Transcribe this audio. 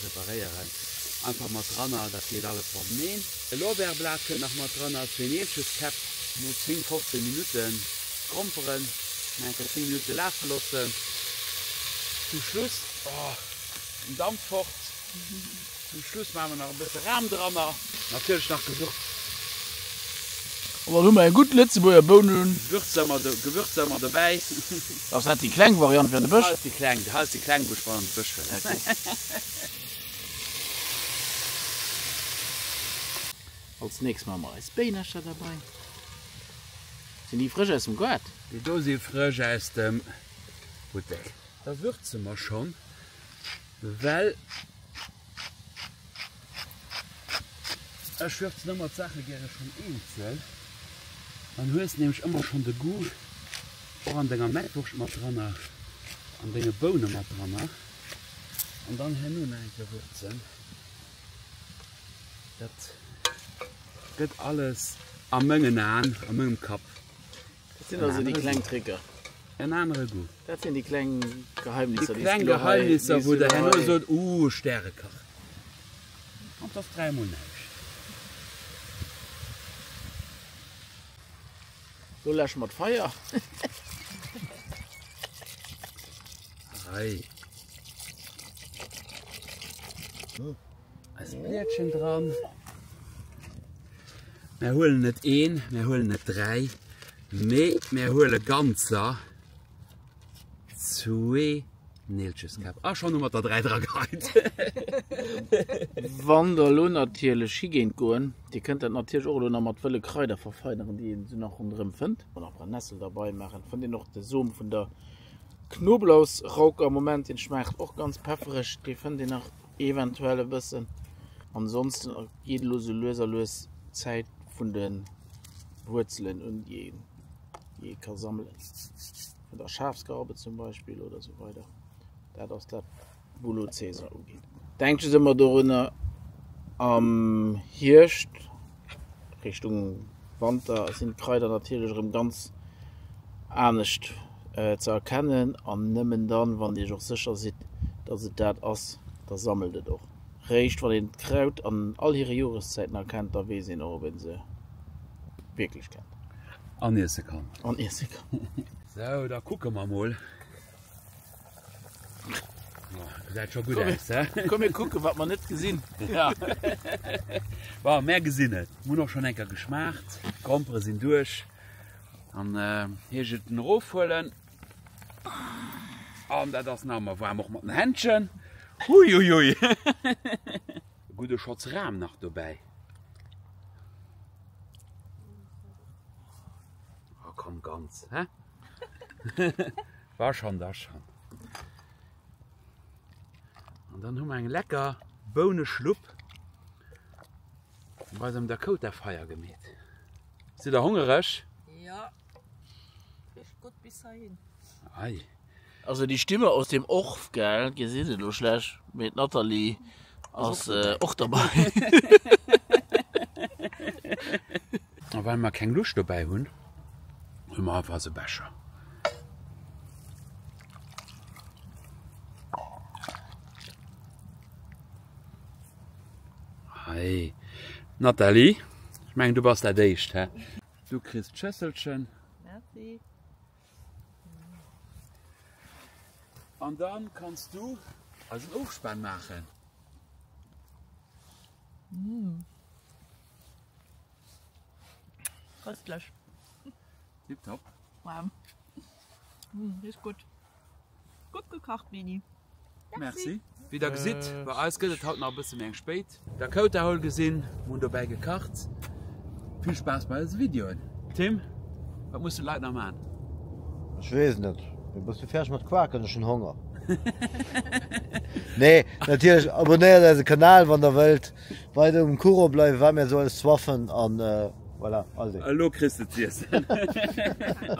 Preparéieren einfach mat dranner, dat geet alles mat Meen. E Lorbeerblat kënnt nach mat dranner, zwee Neelcheskäpp. No 10, 15 Minutten kromperen, nach enker 10 Minutte lafe loossen. Zum Schluss, oh den Damp fort, zum Schluss maache mer nach e bësse Ram dranner, natierlech nach Gewürz. An dann hu mer eng gutt Lëtzebuerger Bounengewürz. Gewürzer mat dobäi. Ass dat déi kleng Variant fir an de Bësch? Hei ass déi kleng, hei ass déi kleng wou ech mat an de Bësch wëll. Als nächst man mer eis Béinercher derbei. Sinn déi frësch aus dem Gaart? Déi do si frësch aus dem Buttek. Da würze mer schonn well. Ech würzen ëmmer d'Saache gäre schonn eenzel. Dann hues de nämlech ëmmer schonn de Goût och an denger Mettwurscht mat dran, an denge Boune mat dran an dann herno nach eng Kéier würzen. Dat gëtt alles a mengen Aen, a mengem Kapp, Dat sinn also déi kleng Tricker. En anere Goût. Dat sinn déi kleng Geheimnisser, déi s du elo hei. Déi kleng Geheimnisser, wou der herno sot, Ooh, Stärekach. An 't ass dräi mol näischt. Lo läsche mer d'Feier. Hei. Eis Blietchen dran. Mir huelen net een, mir huelen net dräi, mee mir huele ganzer zwee Neelcheskap. A ah, schon mat der dräi dra geit. Wann der lo natierlech higéint goen, Dir kënnt dat natierlech och lo nach mat wëlle Kraider verfeineren, déi een se nach ronderëm fënnt. An nach Brennessel derbei maachen. Fënnt een och de Som vun der Knoblauchsrauke am Moment, den schmaacht och ganz peffereg, dee fënnt een nach Eventuell e bëssen. Ansonsten geet elo sou lues a lues d'Zäit vun de Wuerzelen un, déi ee ka sammelen. Vun der Schafsgarbe zum Beispill oder sou weider. Dat ass dat, wou elo d'Saison ugeet. Denkt just ëmmer dorunner am Hierscht Richtung Wanter sinn d'Kraider natierlech erëm ganz anescht ze erkennen an nëmmen dann, wann Dir Iech och sécher sidd, datt et dat ass, da sammelt et och. Réischt wann een d'Kraut an all hire Joreszäiten erkennt, da weess een och, ob ee se wierklech kennt. An iesse kann. An iesse kann. Sou, da kucke mer emol. Seit schon gut aus, he? Komm mir kucken, wat man net gesinn. Ja. Wa mé gesinn et. Mun och schon enker geschmaacht. Grompere sinn duerch. An äh, hie je den Rofuelen. An dat ass na mer warm och mat den Händchen. Hui hui hui. Gude Schotz Ram nach dobäi. Oh, komm ganz, he? War schon da schon. An dann hun eng lecker Boune Schlupp bei dem Dakota Feier gemet. Si der hongereg? Ja gut bis hin. Also die Stimme aus dem Orf gell, gesin se lo schlech, mee Nathalie. ass och derbei. A well mer keng Luucht dobäi hunn, hu mer einfach esou Becher. Hei Nathalie, ech mengen du bass dat éischt, hä? Du kriss d'Schësselchen. Merci. An dann kanns du eisen Ofspann maachen. Köstlich. Tiptop. Wow. Riecht gutt. Gutt gekocht, Leni. Merci. Wéi der gesitt, bei eis gëtt et haut nach e bësse méi eng spéit. Dakota-Hall gesinn, mir hunn dobäi gekacht. Vill Spaass bei eise Videoen! Tim, wat mussen d'Leit nach man? Ech weess net, mee bass du fäerdeg mat quaken? Ech hunn Honger. Nee, natierlech abonnéiert eise Kanal, wann der wëllt weider um Courant bleiwen, wat mir esou alles zwaffen an voilà, also. Elo kriss de z'iessen.